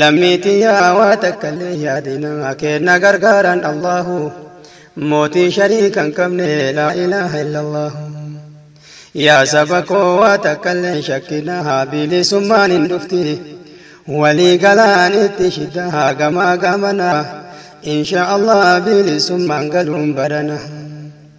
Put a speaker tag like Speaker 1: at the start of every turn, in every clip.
Speaker 1: Lammii tiyyaa waa takkallee yaadina kee na gargaaraan Allaahu Mootii shariika hin qabne laa ilaaha illallaahu Yaa saba koo waa takkallee hin shakkinaa bilisummaan hin dhufti Walii galaanitti shiddaa gamaa gamanaa Inshaa Allah bilisummaan galuun barana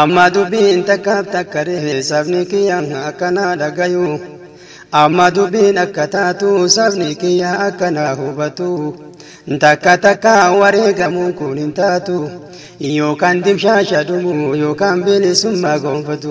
Speaker 1: Amma dubbiin takkaaf takka ree sabni kiyya akkanaa dhagayu. Amma dubbiin akka taatu sabni kiyya akkanaa hubatu. Takka takka wareegamuun kun hin taatu. Yookaan dimshaasha dhumu yookaan bilisummaa gonfatu.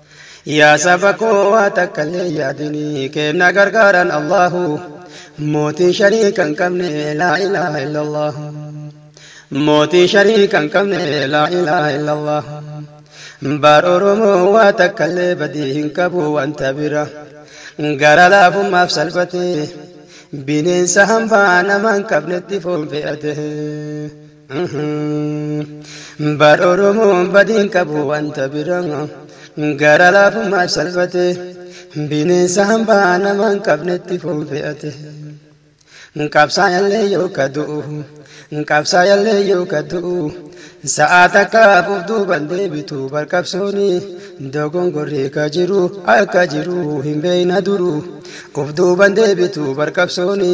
Speaker 1: Yaa saba koo waa takka illee hin yaadinii keenna gargaaran Allahu mootii shariika hin qabne laa ilaaha illallahu mootii shariika hin qabne laa ilaaha illallahu baar oromoo waa takka illee badii hin qabu wanta bira gara laafummaaf salphate bineensa hambaa nama hin qabnetti foon fe'ate. Bar Oromoo badiin qabu wanta bira Gara laafummaaf salphate Bineensa hambaa nama hin qabnetti foon fe'ate Qabsaayallee yoo ka du'u Qabsaayallee yoo ka du'u Sa'aa takkaaf of duuban deebitu bar qabsooni Dogongorri ka jiru akka jiru hin beeyna duru Of duuban deebitu bar qabsooni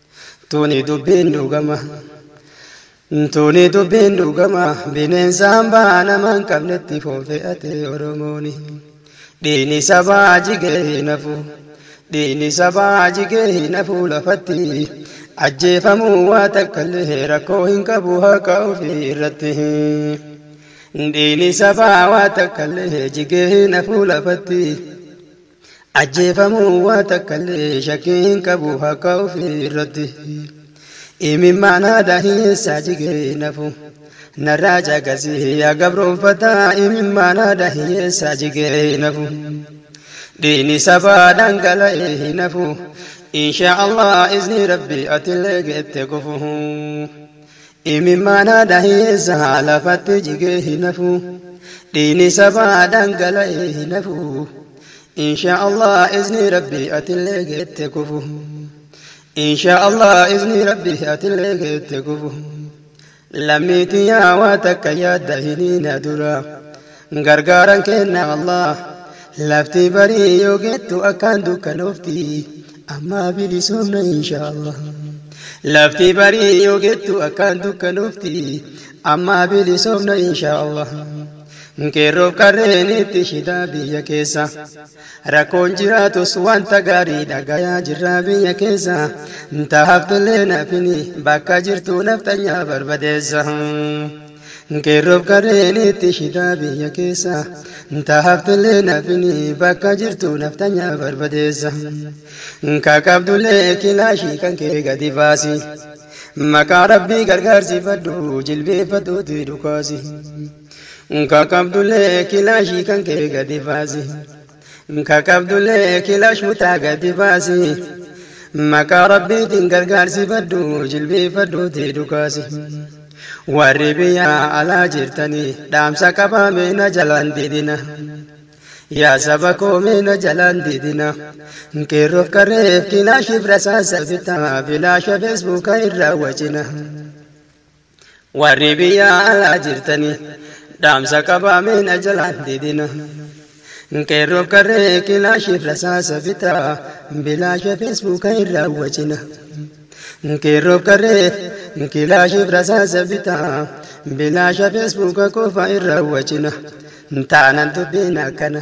Speaker 1: Tuni dubbiin dhugama. Tuni dubbiin dhugama bineensaan baa nama hin qabnetti foofe'ate Oromooni. Dhiini sabaa jigee hin hafu. Dhiini sabaa jigee hin hafu lafatti. Ajjeefamuu waa takkallee rakkoo hin qabu haqa ofii irratti. Dhiini sabaa waa takkallee jigee hin hafu lafatti. Ajjeefamuu waa takkallee shakkii hin qabu haqa ofii irratti. Imimmaan haadha hiyyeessaa jigee nafu narraa caqasi yaa gabroonfataa imimmaan haadha hiyyeessaa jigee nafu. Dhiini sabaa dhangala'ee hin hafu inshaa Allah iznii rabbii atillee geette gufu. Imimmaana dhaheessa lafatti jigee hin hafu dhiini sabaa dhangala'ee hin hafu inshaa Allah iznii rabbi atillee geette kufu inshaa Allah iznii rabbi atillee geette kufu lammii tiyyaa waa takka yaadda hiniina dura Gargaaran keenna Allah. Lafti barii yoo geettu akkaan dukkanoofti. Ammaa bilisoomna inshaa Allah. Lafti barii yoo geettu akkaan dukkanoofti. Ammaa bilisoomna inshaa Allah. Qeerroof qarreen itti shidaa biyya keessa. Rakkoon jiraatus wanta gaarii dhagayaa jirra biyya keessa. Ta haftellee nafini bakka jirtu nafxanyaa barbadeessa. Qeerroof qarreen itti shitaa biyya keessa Ta haftillee nafini bakka jirtu naftanya barbadeessa Ka qabdullee kilaashii kan kee gadi baasi Maqaa rabbii gargaarsifadhu jilbeeffadhuuti dhukaasi Ka qabdullee kilaashii kan kee gadi baasi Ka qabdullee kilash mutaa gadi baasi. Maqaa rabbiitiin gargaarsifadhu jilbiifadhuutii dhukaasi. Warri biyyaa alaa jirtanii dhaamsa qabaa mee na jalaan didina. Yaa saba koo mee na jalaan didina. Qeerroof qarreef kilaashiif rasaasa bitaa bilaasha feesbuuka irraa wacina. Warri biyya alaa jirtanii dhaamsa qabaa mee na jalaan didina. Qeerroof qarree kilaashiif rasaasa bitaa bilaasha feesbuuka irraa wacina. Qeerroof qarree kilaashiif rasaasa bitaa bilaasha feesbuuka qofa irraa wacina. Taanan dubbiin akkana.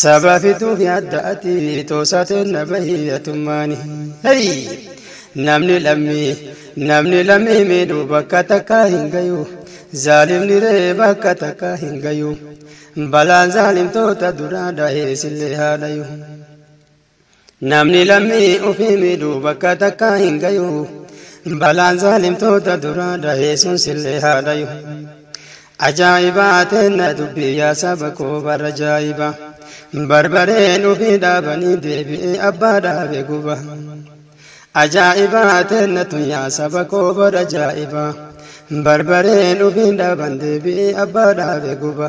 Speaker 1: Sabaa fi duuni adda ati toosaa teenna bahi atummaani. Hey! Namni lammii namni lammii miidhu bakka takkaa hin gayu. Zaalimni ree bakka takkaa hin gayu. Balaan zaalimtoota duraa dhahe sillee haa dhayu. Namni lammii ofii miidhu bakka takkaa hin gayu. Balaan zaalimtoota duraa dhahee sun sillee haa dhayu. Ajaa'ibaa teenna dubbii yaa saba koo bara ajaa'iba. Barbareen ofii dhaabanii deebi'ee abbaa dhaabe guba. Ajaa'ibaa teenna tun yaa saba koo bara ajaa'iba. Barbareen ofii dhaaban deebi'ee abbaa dhaabe guba.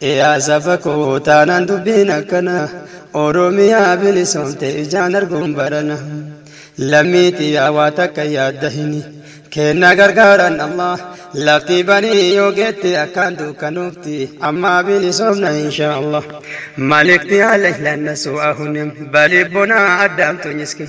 Speaker 1: Yaa saba koo taanaan dubbiin akkana Oromiyaa bilisoomte ijaan arguun barana Lammii tiyyaa waa takka yaadda hini Keenna gargaaran Allah Lafti banii yoo geette akkaan dukkanoofti Ammaa bilisoomna inshaa Allah Malikti alayh lannasu ahunim Balibbonaa addaamtu nyiskin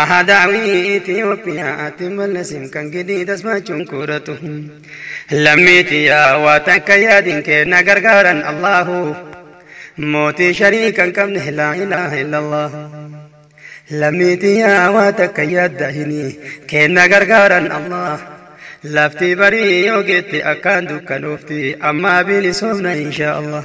Speaker 1: Ahadaawii Itiyoophiyaatti mallasim kan gidii tasbaachuun kuudhatu. Lammii tiyyaa waa takka yaadin kee na gargaaran Allaahu. Mootii sharii kan qabne laa ilaaha illallah. Lammii tiyyaa waa takka yaadda hini kee na gargaaran Allah. Laftii barii yoo geette akkaan dukkanoofti ammaa bilisoomna inshaa Allah.